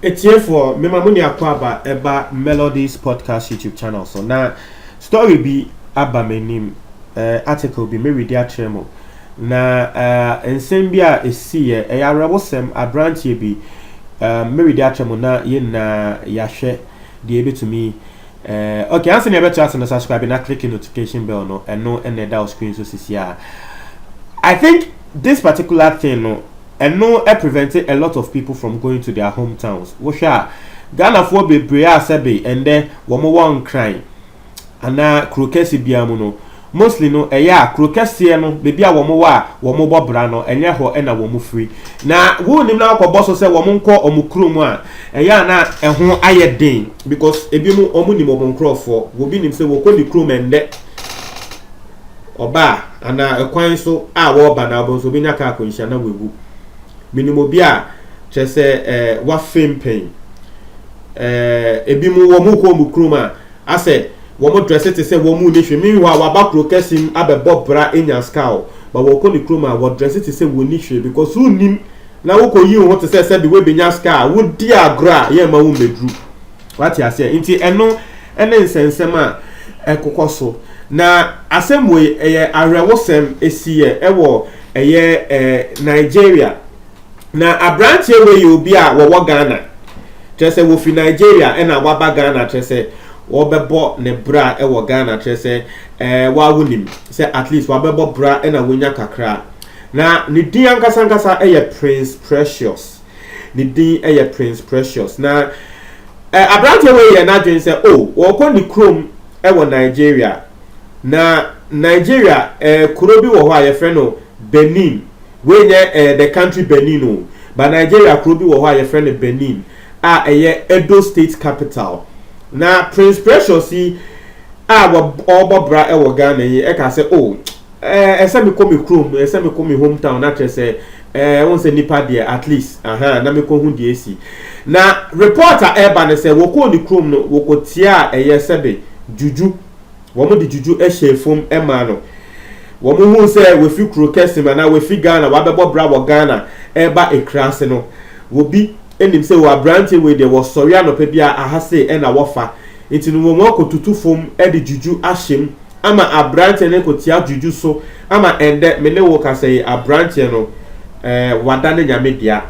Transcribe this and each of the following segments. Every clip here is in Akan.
Atiefoɔ, mema mo ne akwaaba ɛba Melodies Podcast YouTube channel so na story bi aba m'anim, uh, article bi meredi akyerɛ mo na uh, nsɛm bi a ɛsiiɛ ɛyɛ awerɛwosɛm aberanteɛ bi uh, meredi akyerɛ mo na yɛn nyinaa yɛahwɛ deɛ ɛbɛtumi Eh, okay, ansa nea ɛbɛto ase no subscribe na click notification bell no, ɛno ɛna ɛda wo screen so sisi a. I think this particular thing no, ɛno ɛ prevent a lot of people from going to their hometowns. Wohwɛ a, Ghanafoɔ bebree a sɛbe ɛndɛ wɔn wɔ Nkran anaa kuro kɛse biara mu no, Mostly no, ɛyɛ a kuro kɛseɛ no, baabi a wɔn wɔ a wɔn bɔ bra no, ɛnyɛ hɔ na wɔn firi. Na wonnim na wɔkɔ bɔ so sɛ wɔn nkɔ wɔn kuro mu a, ɛyɛ a na ɛho ayɛ den because ebi mo wɔn nim wɔn nkorɔfoɔ. Obi nim sɛ wɔkɔ ne kurom ɛndɛ ɔba a, anaa ɛkwan so a wɔreba na wɔn nso obi nya kaa akwanhyia na wɔawu. Menim obi a kyerɛ sɛ ɛɛ wafem pɛn. Ɛɛ ebi mo wɔn kɔ wɔn kurom a. Asɛ wɔn dresse te sɛ wɔn nni hwee meanwhile waba kuro kɛse mu abɛbɔ bra enya ska o but wɔkɔ ne kurom a wɔ dresse te sɛ wɔnni hwee because wonnim na wokɔ yi wo ho te sɛ sɛbi wobenya ska a wodi agorɔ a yɛmma wo mmeduru wate aseɛ nti ɛno ne nsɛnsɛm a ɛkokɔ so na asɛm wei ɛyɛ awerɛwosɛm ɛsiiɛ ɛwɔ ɛyɛ eh Nigeria Na abranteɛ wei yɛ obi a wɔwɔ Ghana, kyerɛ sɛ wɔfiri Nigeria ɛna waba Ghana kyerɛ sɛ wɔbɛbɔ ne bra wɔ Ghana kyerɛ sɛ ɛɛ waa wonim sɛ at least wabɛbɔ bra ɛna wɔnya kakra. Na ne din ankasa ankasa yɛ Prince Precious, ne din yɛ Prince Precious. Na ɛɛ abranteɛ wei yɛ n'adwene sɛ o oh, wɔkɔ ne kurom wɔ Nigeria. Na Nigeria ɛɛ kuro bi wɔ hɔ a yɛfrɛ no Benin. Wei nyɛ eh the country Benin o, but Nigeria kuro bi wɔ hɔ a yɛfrɛ no Benin a ɛyɛ Edo state capital. Na Prince Precious yi a ɔrebɔ bra wɔ Ghana yi ɛka sɛ oh eh ɛsɛ mekɔ me kurom, ɛsɛ mekɔ me home town na kyerɛ sɛ eh wɔn sɛ nipa deɛ at least aha na mekɔ ho deɛ esi. Na report a ɛreba no sɛ wɔkɔɔ ne kurom no wɔkɔtiaa ɛyɛ sɛbe juju. Wɔde juju hyɛɛ fam maa no. Wɔhuu sɛ wafi kuro kɛse mu anaa wafi Ghana, wabɛbɔ bra wɔ Ghana reba Ekurase no. Obi nim sɛ o aberanteɛ wei deɛ wɔsɔre anɔpa biara aha sei na wɔfa. Nti no wɔn akɔtutu fam de juju ahyɛ mu ama aberanteɛ no kɔtia juju so ama ɛndɛ me ne wo kasa yi aberanteɛ no wadane Nyame dea.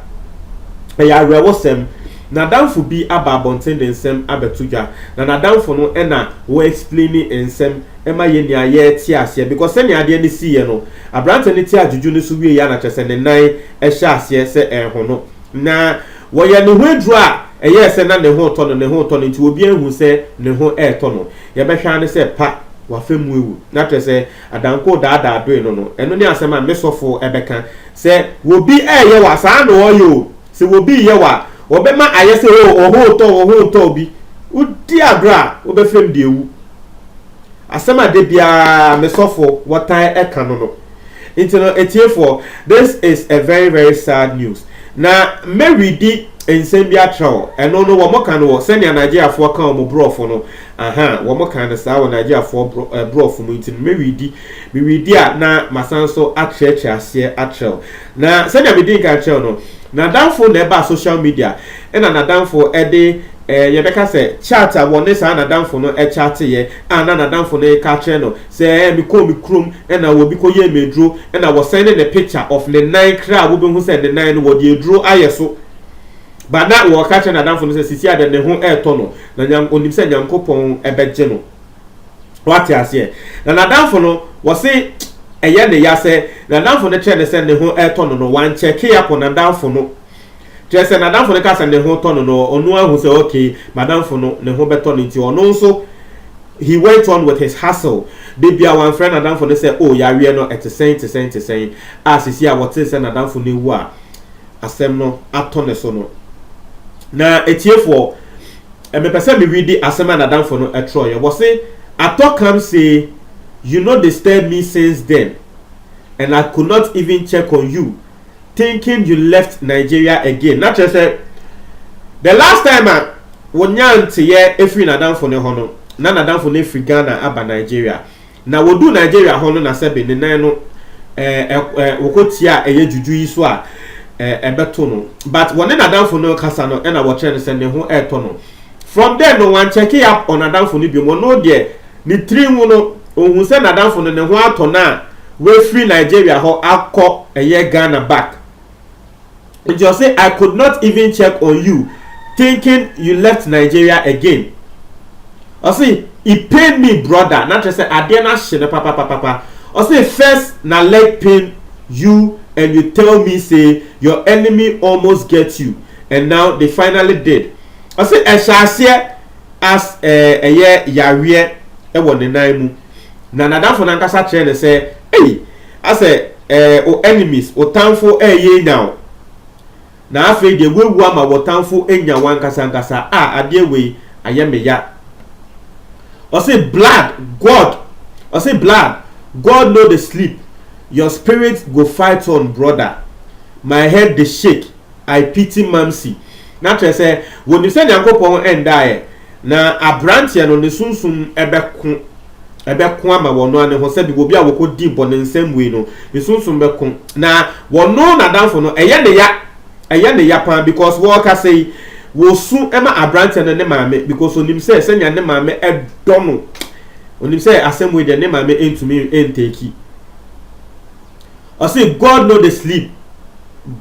Ɛyɛ awerɛwosɛm. N'adamfo bi aba abɔnten de nsɛm abɛto dwa na n'adamfo no na wo explaini nsɛm ma yɛn nyinaa yɛ te aseɛ because sɛnea adeɛ no siiɛ no aberanteɛ no te adwudwu no so wieɛ na kyerɛ sɛ ne nan hyɛ aseɛ sɛ ɛrehono na wɔyɛ ne ho aduro a ɛyɛɛ sɛ na ne ho retɔ no ne ho retɔ no nti obiara nhu sɛ ne ho retɔ no yɛbɛhwɛ ara ne sɛ pa wafa mu awu na kyerɛ sɛ adankoo daadaadoe no no ɛno ne asɛm a me sɔfo bɛka sɛ wɔbi reyɛ wo a saa na wɔyɛ o. Sɛ obi reyɛ wo a, wɔbɛma ayɛ sɛ oh, wo ho retɔ wo, wo ho retɔ wo bi. Wodi agorɔ a, wobɛfrɛ me de awu. Asɛm a da biara me sɔfo wɔtaa ka no no. Nti no, atiefoɔ, this is a very very sad news. Na mɛredi nsɛm bi atrɛ hɔ. Ɛno no, wɔka no wɔ sɛnea Nigeriafoɔ ka wɔn borɔfo no, aha, wɔka no saa wɔ Nigeriafoɔ borɔfo mu. Nti no, mɛredi, meredi a na masan so akyerɛkyerɛ aseɛ atrɛ wo. Na sɛnea midii kan kyerɛw no, n'adamfo na ɛbaa social media na n'adamfo de eh, yɛbɛka sɛ chat a wɔne saa n'adamfo no chatteeɛ a na n'adamfo no reka akyerɛ no sɛ eh, mekɔɔ me kurom na obi kɔyɛɛ me aduro na wɔsɛn ne ne picture of ne nan kra a wobɛhu sɛ ne nan no wɔde aduro ayɛ so ba na wɔka kyerɛ n'adamfo no sɛ sisi a dɛ ne ho ɛretɔ no na nyam, onim sɛ Nyankopɔn ɛbɛgye no. Wate aseɛ? Na n'adamfo no, wɔse ɛyɛ ne ya sɛ n'adamfo no kyerɛ no sɛ ne ho retɔ no no, wankyɛke akɔ n'adamfo no. Kyerɛ sɛ, n'adamfo no ka sɛ ne ho tɔ no no, ɔno ahu sɛ okay, m'adamfo no, ne ho bɛtɔ no nti, ɔno nso, he went on with his hustle. Da bi a wamfrɛ n'adamfo no sɛ, oh, yareɛ no, ɛte sɛn, te sɛn, te sɛn, a seesei a wɔtee sɛ n'adamfo no awu a asɛm no atɔ ne so no. Na atiefoɔ, Mepɛ sɛ mewidi asɛm a n'adamfo no twerɛeɛ. Wɔse, Atɔ kam see you no disturb me since then and I could not even check on you thinking you left Nigeria again. Na kyerɛ sɛ, the last time a wɔnyaa nteeɛ firii n'adamfo no hɔ no, na n'adamfo no afiri Ghana aba Nigeria. Na wɔduu Nigeria hɔ no na sɛbe ne nan no ɛɛ wɔkɔ tiaa ɛyɛ juju yi so a ɛɛ ɛbɛto no but wɔne n'adamfo no rekasa no ɛna wɔkyerɛ no sɛ ne ho ɛɛtɔ no from there no wɔn check up on adamfo no biom ɔno deɛ ne tiri ho no ohun sɛ n'adamfo no ne ho atɔ no a wɔafiri Nigeria hɔ akɔ ɛyɛ Ghana back. Nti ɔse I could not even check on you thinking you left Nigeria again ɔse it pain me brother na kyerɛ sɛ adeɛ no ahye no papapapapa ɔse first na leg pain you and you tell me say your enemy almost get you and now they finally did ɔse ɛhyɛ aseɛ as ɛyɛ yareɛ wɔ ne nan mu na nadamfo no ankasa kyerɛ no sɛ ei Asɛ eh, wo enemies, wo tamfo reyɛ anya wo. Na afei deɛ woawu ama wo tamfo anya wo ankasa ankasa, ah adeɛ wei ayɛ me ya. Ɔse blood, God, ɔse blood, God no dey sleep, your spirit go fight on brother, my head dey shake, I pity Mamsy. Na kyerɛ sɛ wɔnim sɛ Nyankopɔn ndaeɛ, na abranteɛ no ne sunsum bɛko. bɛko ama wɔn ano ho sɛ biribi obi a wɔkɔdii bɔne nsɛm wei no ne sunsum bɛko na wɔno n'adamfo no ɛyɛ ne ya ɛyɛ ne ya paa because wɔrekasa yi wɔsu ma aberanteɛ no ne maame because onim sɛ sɛnea ne maame ɛdɔ no onim sɛ asɛm wei deɛ ne maame ntumi ntɛki ɔse God no dey sleep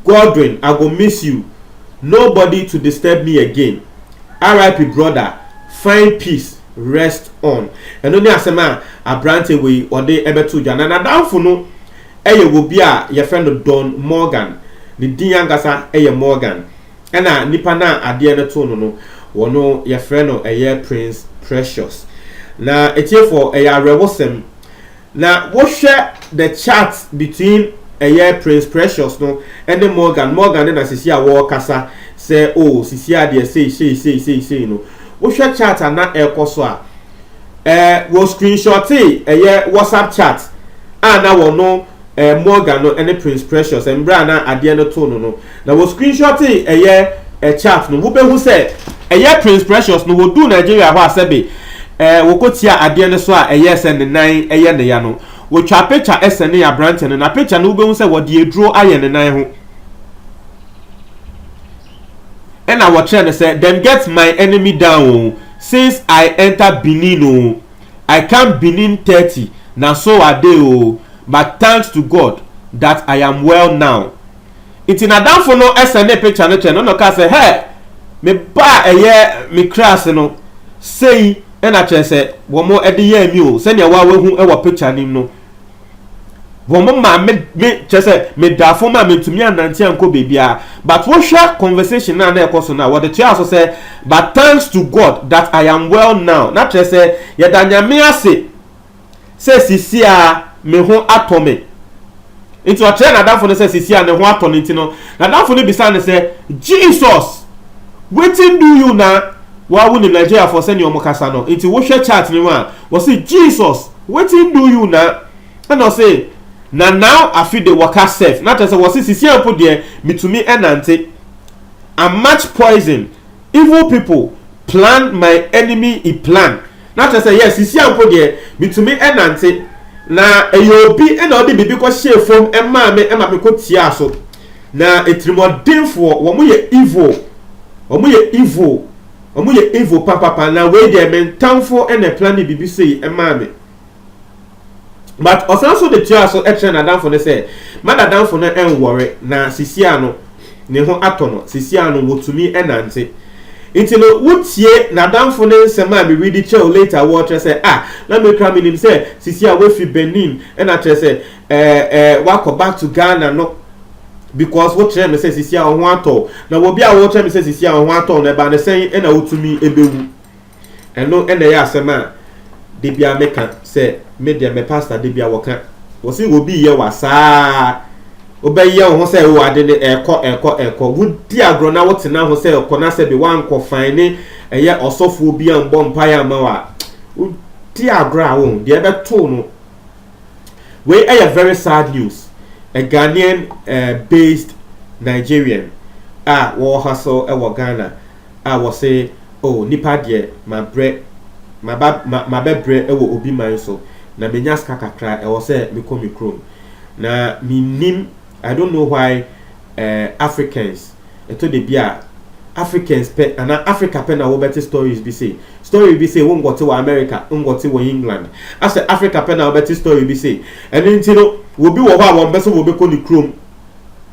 Godwin I go miss you nobody to disturb me again RIP brother find peace rest on ɛno ne asɛm a aberanteɛ wei ɔde ɛbɛto dwa na n'adamfo no ɛyɛ obi a yɛfrɛ no Don Morgan ne din ankasa ɛyɛ Morgan ɛna nipa no a adeɛ no too no no wɔno yɛfrɛ no ɛyɛ Prince Precious na ɛtiefoɔ ɛyɛ awerɛwosɛm Na wo hwɛ the chat between ɛyɛ Prince Precious no ɛne Morgan, Morgan ne na sisi a wɔɔkasa sɛ oh sisi adeɛ sei sei sei sei sei no, wo hwɛ chat a na ɛɛkɔ so a, eh wɔ screenshotee ɛyɛ WhatsApp chat a na wɔno eh Morgan no ɛne Prince Precious mbrɛ a na adeɛ no too no no, Na wɔ screenshotee ɛyɛ ɛ chat no wobɛhu sɛ ɛyɛ Prince Precious no wɔduu Nigeria hɔ a sɛbe ɛ wɔkɔ tiaa adeɛ no so a ɛyɛɛ sɛ ne nan ɛyɛ ne ya no wɔtwaa picture ɛsɛnee aberanteɛ no na picture no wobɛhu sɛ wɔde aduro ayɛ ne nan ho ɛna wɔkyerɛ no sɛ them get my enemy down o since I enter Benin o I come Benin 30 na so ade o but thanks to God that I am well now. Ntsi n'adamfo no sɛnee picture no kyɛɛ no na ɔkaa sɛ, Hɛɛ, me ba a ɛyɛ me kra ase no, sei na kyerɛ sɛ wɔde yɛɛ me o, sɛnea woahu wɔ picture no mu no. Wɔmaa me, me, kyerɛ sɛ medaa fam a mentumi annante ankɔ baabiara. But wohwɛ conversation no a na ɛkɔ so no a, wɔde toaa so sɛ, But thanks to God that I am well now, na kyerɛ sɛ yɛda Nyame ase, sɛ sisi a me ho atɔ me. Nti ɔkyerɛɛ n'adamfo no sɛ sisi a ne ho atɔ no nti no, n'adamfo no bisaa no sɛ, Jesus, wetin do you na? Wo ara wonim Nigeriafoɔ sɛdeɛ wɔn kasa no, nti wohwɛ chart no mu a, wɔse Jesus, wetin do you na? Ɛna ɔse, na now afe de wɔka sɛf, na kyerɛ sɛ wɔse sisi a mpo deɛ metumi nante. I'm much poison, evil people plan my enemy i plan. Na kyerɛ sɛ yes sesia mpo deɛ metumi nante na ɛyɛ obi na ɔde biribi kɔ hyɛɛ fom maa me ma me kɔ tiaa so na atirimɔdenfoɔ wɔn yɛ evil wɔn yɛ evil wɔn yɛ evil papapa na wei deɛ mentamfoɔ na ɛplane biribi sei maa me. But ɔsan nso de toaa so kyerɛ n'adamfo no sɛ, Ma n'adamfo no nwɔre na sisia no ne ho atɔ no, sisia no wɔtumi nante. Nti no wotie n'adamfo no nsɛm a meredi kyerɛ wo later wɔ kyerɛ sɛ ah na me kora menim sɛ sisia wafi Benin ɛna kyerɛ sɛ ɛɛ ɛɛ wakɔ back to Ghana no because wo kyerɛ me sɛ sisia wo ho atɔ na wɔbi a wo kyerɛ me sɛ sisia wo ho atɔ no ɛba no sɛn ɛna wotumi ɛbɛwu. Ɛno na ɛyɛ asɛm a da biara meka sɛ me deɛ me pastor da biara wɔka. Wɔsi obi yɛ wa saa wobɛyɛ wo ho sɛ wo ade ne ɛkɔ ɛkɔ ɛkɔ. Wodi agorɔ na wotena ho sɛ ɛkɔ na sɛ bi wankɔ fan ne ɛyɛ ɔsɔfoɔ bi a mbɔ mpaeɛ ama wa. Wodi agorɔ a wɔn deɛ ɛbɛto no. Wei ɛyɛ very sad news. A Ghanaian uh, based Nigerian a wɔwɔ ha so ɛwɔ Ghana. a wɔse, Oh, nnipa deɛ, mabrɛ, maba, ma, mabɛbrɛ wɔ obi man so, na menya sika kakra, ɛwɔ sɛ mekɔ me kurom. Na mennim, I don't know why ɛɛ, eh, Africans, ɛtɔ da bi a, Africans pɛ, anaa Africa pɛ na wobɛte stories bi sei. Story bi sei, wonkɔte wɔ America, wonkɔte wɔ England. Asɛ Africa pɛ na wobɛte story bi sei. Ɛno nti no, obi wɔ hɔ a wɔmpɛ sɛ wɔbɛkɔ ne kurom.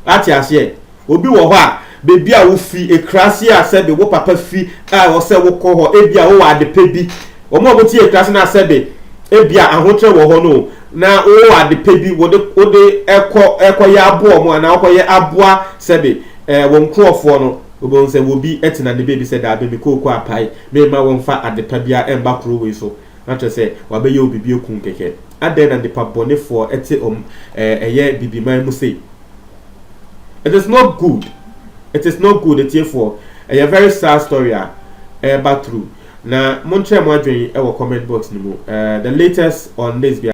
Ate aseɛ? Obi wɔ hɔ a, baabi a wofi, akuraase a sɛbe wo papa fi a ɛwɔ sɛ wokɔ hɔ, ebia wowɔ adepɛ bi. Wɔn a wɔte akuraase no a sɛbe ebia ahokyerɛ wɔ hɔ no, na wowɔ adepɛ bi wode wode ɛkɔ ɛkɔyɛ aboa wɔn anaa wokɔyɛ aboa sɛbe ɛɛ wɔn nkurɔfoɔ no, wobɛhu sɛ wɔbi tena ne baabi sɛ daabi mekɔ Oko Apae, meremma wɔmfa adepa biara mma kuro wei so. Na kyerɛ sɛ, wɔabɛyɛ wo biribi akum kɛkɛ. Adɛn na nnipa bɔnefoɔ te wɔn ɛyɛ bibiman mu sei? It is not good, it is not good, atiefoɔ. Ɛyɛ very sad story a ɛreba through. Na monkyerɛ mo adwene wɔ comment box no mu. The latest on this biara.